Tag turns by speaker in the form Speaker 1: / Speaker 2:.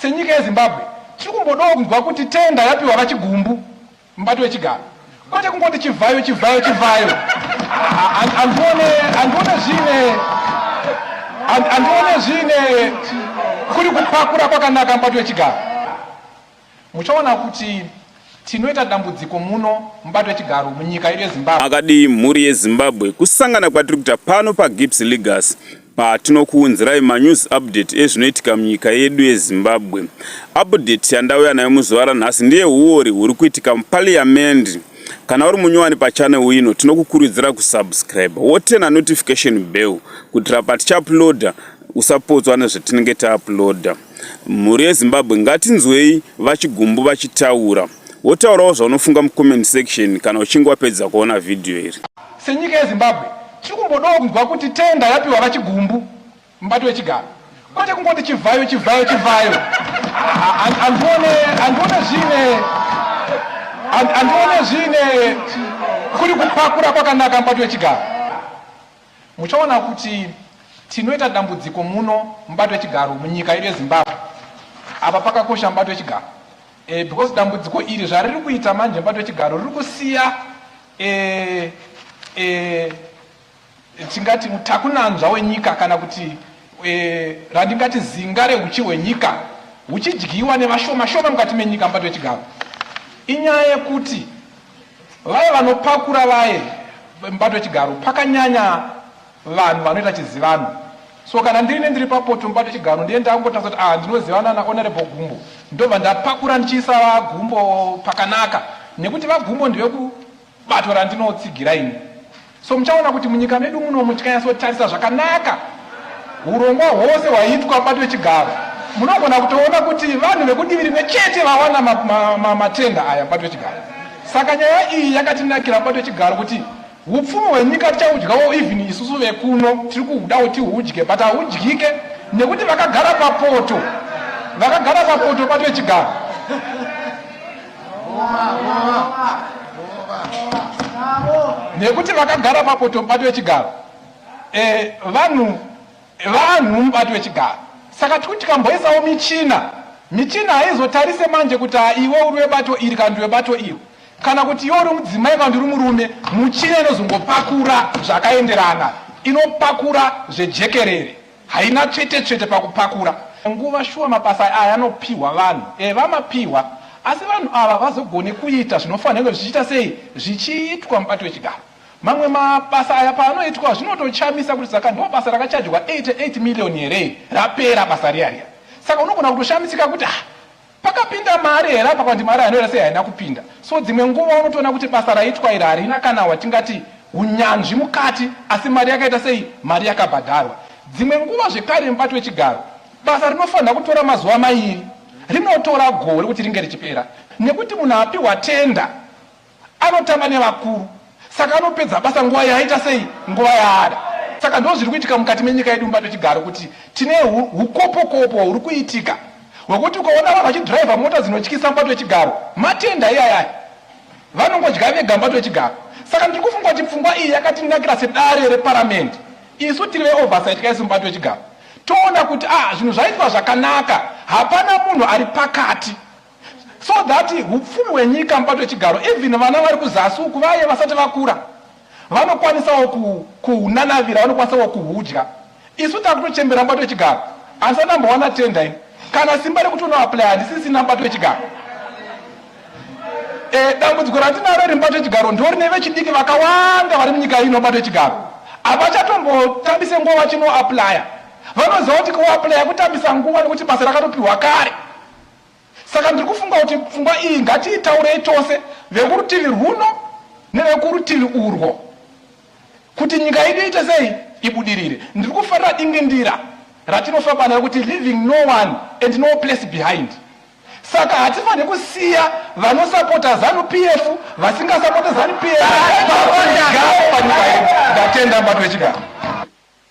Speaker 1: Senyika yeZimbabwe tiri kumbodawo kunzwa kuti tenda yapiwa vaChigumbu mubato wechigaro kwete kungoti chivhayo chivhayo chivhayo andione andione zvine andione zvine kuri kupakura kwakanaka mubato wechigaro Muchaona kuti tinoita dambudziko muno mubato wechigaro munyika yedu yezimbabwe. Makadii mhuri
Speaker 2: yezimbabwe kusangana kwatiri kuita pano pagips legas patinokuunzirai manews update ezvinoitika munyika yedu yezimbabwe update yandauya nayo muzuva ranhasi ndiye huori huri kuitika mupaliyamendi kana uri munyowani pachanel ino tinokukurudzira kusubscribe wotena notification bell kutira patichauploda usapotswa nezvatinenge tauploda Mhuri yeZimbabwe ngatinzwei vaChigumbu vachitaura. Wotaurawo zvaunofunga mucomment section kana uchinge wapedza kuona video iri. Senyika yeZimbabwe
Speaker 1: tiri kumbodawo kunzwa kuti tender yapiwa vaChigumbu mubato wechigaro kwete kungoti chivhayo chivhayo chivhayo. Handione handione zvine handione zvine kuri kupakura kwakanaka mubato wechigaro. Muchaona kuti tinoita dambudziko muno mubato wechigaro munyika yedu yezimbabwe apa pakakosha mubato wechigaro e, because dambudziko iri zvariri kuita manje mubato wechigaro riri kusiya e, e, tingati mutakunanzva wenyika kana kuti e, randingati zinga rehuchi hwenyika huchidyiwa nevashoma shoma mukati menyika mubato wechigaro inyaya yekuti Vaye vanopakura vaye mubato wechigaro pakanyanya vanhu vanoita chizivano so kana ndiine ndiri papoto mubato wechigaro ndiye ndakungotadza kuti ah ndinozivana nahonorable gumbo ndobva ndapakura ndichiisa vagumbo pakanaka nekuti vagumbo ndevekubato randinotsigira ini So muchaona kuti munyika medu muno muchikanyatsotarisa zvakanaka hurongwa hwose hwaitwa bato yechigaro munogona kutoona kuti vanhu vekudivi rimwe chete vawana matenda ma, ma, ma aya bato yechigaro saka nyaya iyi yakatinakira bato yechigaro kuti upfumi hwenyika tichaudyawo even isusu vekuno tiri kuudawo tiudye but haudyike nekuti vakagara papoto vakagara papoto bato yechigaro nekuti vakagara mapoto mubato wechigaro eh, vanhu vanhu mubato wechigaro saka tikuti tikamboisawo michina michina haizotarise manje kuti iwe uri webato iri kana ndi webato iri kana kuti iwe uri mudzimai kana ndiri murume muchina inozongopakura zvakaenderana inopakura zvejekerere Haina tsvete tsvete pakupakura. Nguva shuwa mabasa aya anopihwa vanhu. Eh vamapihwa. Asi vanhu ava vazogone kuita zvinofanirwa zvichiita sei zvichiitwa mubati wechigaro. Mamwe mabasa aya paanoitwa zvinotochamisa kuti saka ndo basa rakachajwa 88 million here rapera basa riya riya. Saka unogona kutoshamisika kuti ah Pakapinda mari here apa kwati mari anoera sei haina kupinda. So dzimwe nguva unotoona kuti basa raitwa iri harina kana watingati hunyanzvi mukati asi mari yakaita sei mari yakabhadharwa. Dzimwe nguva zvekare mubato wechigaro basa rinofanira kutora mazuva mairi rinotora gore kuti ringe richipera nekuti munhu apihwa tender Anotamba nevakuru saka anopedza basa nguva yaaita sei nguva yaada. Saka ndozviri kuitika mukati menyika yedu mubato chigaro kuti tine hukopokopo huri kuitika hwekuti ukaona vanhu vachidhiraivha mota dzinotyisa mubato wechigaro matenda iyayaya vanongodya vega mubato wechigaro. Saka ndiri kufunga kuti pfungwa iyi yakatinakira sedare reparamende isu tiri veoversight kaisu mubato wechigaro toona kuti ah zvinhu zvaitwa zvakanaka hapana munhu ari pakati so that hupfumi hwenyika mubato wechigaro even vana vari kuzasi uku vaye vasati vakura vanokwanisawo kuhunanavira vanokwanisawo kuhudya isu takutochembera mubato wechigaro asi anambowana tenda ini kana simba rekuti unoaplya handisisina mubato wechigaro e, dambudziko ratinaro iri mubato wechigaro ndo rine vechidiki vakawanda vari munyika ino mubato wechigaro havachatombotambise nguva vachinoaplya vanoziva kuti kuaplya kutambisa nguva nekuti basa rakatopiwa kare Saka ndiri kufunga kuti pfungwa iyi ngatiitaurei tose, vekurutivi rwuno nevekurutivi urwo, kuti nyika yedu iite sei, ibudirire. Ndiri kufarira dingindira ratinofamba nayo kuti leaving no one and no place behind. Saka hatifanire kusiya vanosapota zanu PF vasingasapote zanu PF. Ndatenda mbato yechigaro.